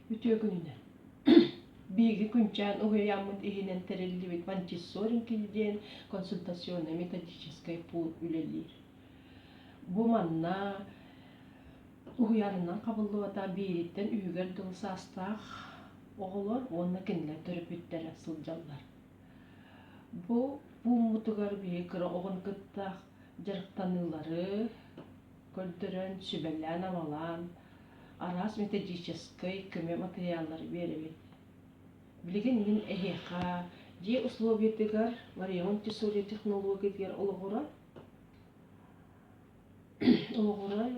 Үтүө күнүнэн. Биһиги күнчээн уһуйааммыт иһинэн тэриллибит Montessori диэн консультационно-методическай пуун үлэлиир. Бу манна уһуйаанынан хабыллыбата биириттэн үһүгэр дыл саастаах оҕолор уонна кинилэр төрөппүттэрэ сылдьаллар. Бу пууммутугар биһиги кыра оҕону кытта дьарыктаныылары көрдөрөн, сүбэлээн-амалаан, араас методическай көмө матырыйааллары биэрэбит. Билигин мин эһиэхэ дьиэ условиятыгар Ларионт Тесури технологиятыгар олоҕуран олоҕуран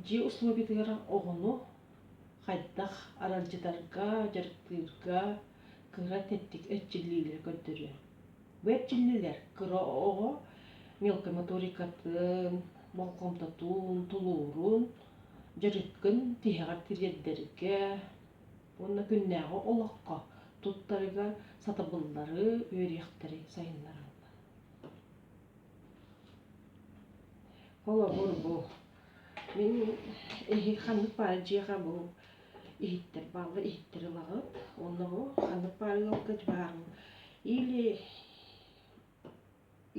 дьиэ условиятыгар оҕону хайдах аралдьытарга, дьарыктыырга кыра тэттик эрчиллиилэри көрдөрүө. Бу эрчиллиилэр кыра оҕо мелкомоторикатын, болҕомтотун, тулуурун, дьарыкын тиһэҕэр тириэрдэргэ уонна күннээҕи олоххо туттарыга сатабыллары үөрүйэхтэри сайыннараллар. Холобур бу мин эһи ханнык баар дьиэҕэ бу иһиттэр баалла иһиттэр ылаҕыт онно бу ханнык баар ыалгыт баарым или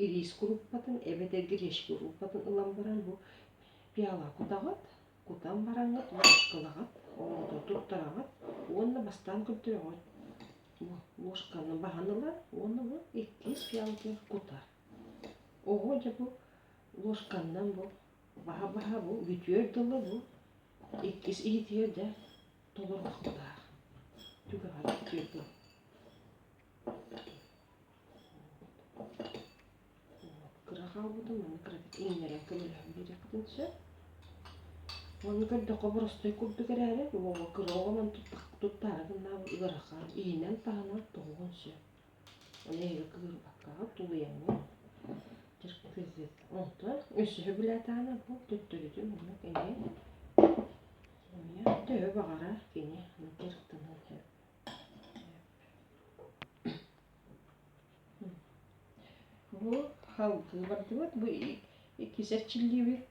ириис куруппатын эбэтэр гречка куруппатын ылан баран бу пиала кутаҕыт кутан бараҥҥыт ложкалаҕыт оҕото туттараҕыт уонна бастаан көрдөөҕүт ложканы баһан ылар уонна бу иккис пиалатыгар кутар оҕо дьэ бу ложканнан бу баһа баһа бу бүтүөр дылы бу Иккис иһитигэр да толордохтоох түгэҕэр киирдим кыра хаалбытым аны кыратык иҥнэрэн көмөлөһөн биэриэхпитин сөп ону көрдөххө боростуой курдук эрээри уоҕа кыра оҕо мин туттаары гыннаабыт ыарахан иһинэн таһынан тоҕуһун сөп Кыырбаккаҕа тулуйаҥҥын киргизит. Онтон өсөһө билэтаана бу төттөрүтүн уонна кини төһө баҕарар кини киртынан сөп. Бу халгыы бардыбыт, бу иккис эрчиллиибит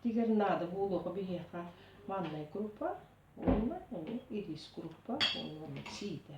тигэр наада буолуоху биһиэхэ маннай группа уонна ырис группа уонна сиитэ.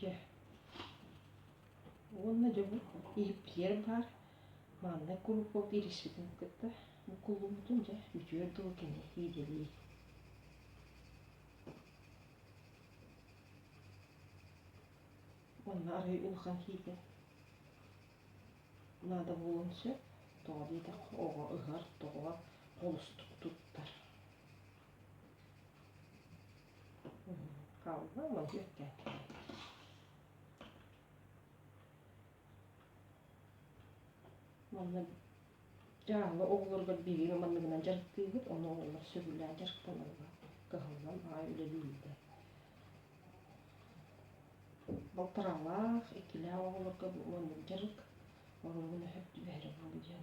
Дьэ. Уонна дьону иһиппитиэр баар мааннай куруппа биэриспитин кытта куллуммутун дьэ үтүө дуу кини иидэлии Уонна арай улахан хийгин наада буолуон сөп тоҕо диэтэх оҕо ыһар тоҕо холустук туттар Калга молодец. Манна дьаала оҕолорго билиим манныгынан дьарыктыыгыт, ону оҕолор сөбүлээн дьарыкталарга кыһаллан аай үлэлиирдэ. Балтараалаах, иккилээх оҕолорго бу маннык дьарык оруолун өһөп түбэһэрэ буолу диэн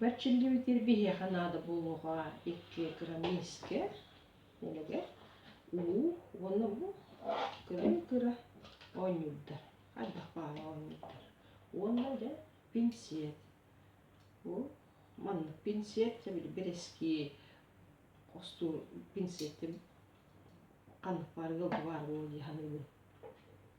Бар чиллибитир биһиэхэ наада буолуоҕа икки грамм миискэ дэлэгэ уу уонна бу кыра кыра оонньуурдар хайдах баара оонньуурдар уонна дьэ пинсиэт бу маннык пинсиэт сэбили бэрэскии хостуур пинсиэттим ханнык баар ыалдыбаары буолуо дии саныыбын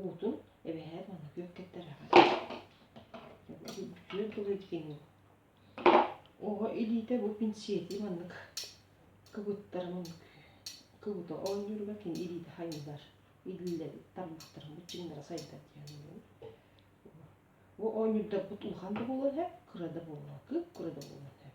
уутун эбэһээт манна күөн кэттэрээхэ күөн тылы идигин уу оҕо илиитэ бу пинсиэти маннык кыбыттара маннык кыбыта оонньууруга кин илиитэ хайыылар илиллэбит тармахтарын бу чиҥнара сайда диэн бу оонньуурдарбыт улахан да буолан эб кыра да буоллар кып кыра да буолан эб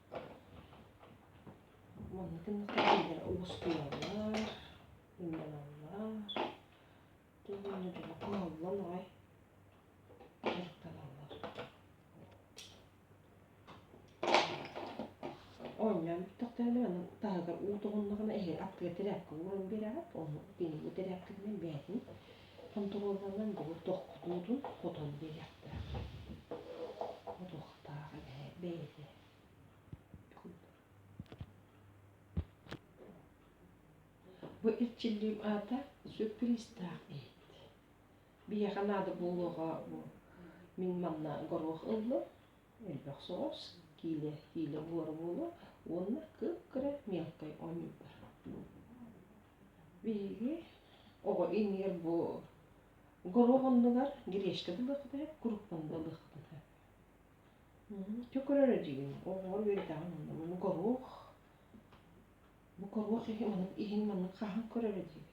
Уонна түмүктэрдэр оҕустуллар, уулланаллар. Түһүннэ дуо, хааллан аҕай дьарыктаналлар. Оонньоон бүттэхтэринэ аны таһыгар уу тоҕуннаҕына эһи аккыа тирээпкэ ууран биэрээт, ону кинини тирээпкэтинэн бээтин Хонтуруолунан бүгүн тоххутуутун хотон билиэхтэрэ. Ходуохтаах эбэ бэйэтэ. Бу эрчиллиим аата сюрпризтаах эбит. Биһиэхэ наада буолуоҕа бу мин манна горох ылла, элбэх соҕус, киилэ, киилэ буора буолуо уонна кып-кыра мелкай оонньуулар. Биһиги оҕо иҥиэр бу горуоп оннугар гречка ылыахпыт ээ, куруппанны ылыахпыт ээ. Чөкөрөрө дигин оҕолор үөрэтэҕин онно маны горуох бу горуох иһи маннык иһин маннык хаһан көрөрө дии.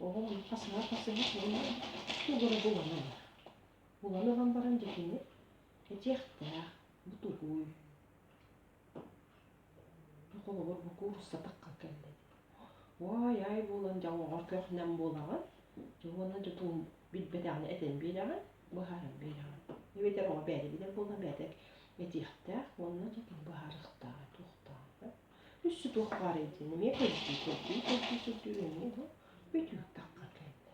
Оҕо ону хасыһа хасыһа сонно тугура булан ылар. Булан ылан баран дьэтиҥи этиэхтээх, бутугуй Холобур, бу куурусса тахха кэллим. Уой, ай буолан дьоҥҥор көхнем буолаҕын. Уонна тутуум билбэтэҕинэ этэн биэрэҕин, быһааран биэрэҕин. Эбэтэр оҕо бэйэтэ билэр буолан бэйэтэ этиэхтээх уонна тутуум быһаарыахтааҕа туохтааҕа. Үссе туох баар этин эмиэ көрдүү, көрдүү, көрдүү, көрдүү эмиэ да бөтүүк тахха кэллэ.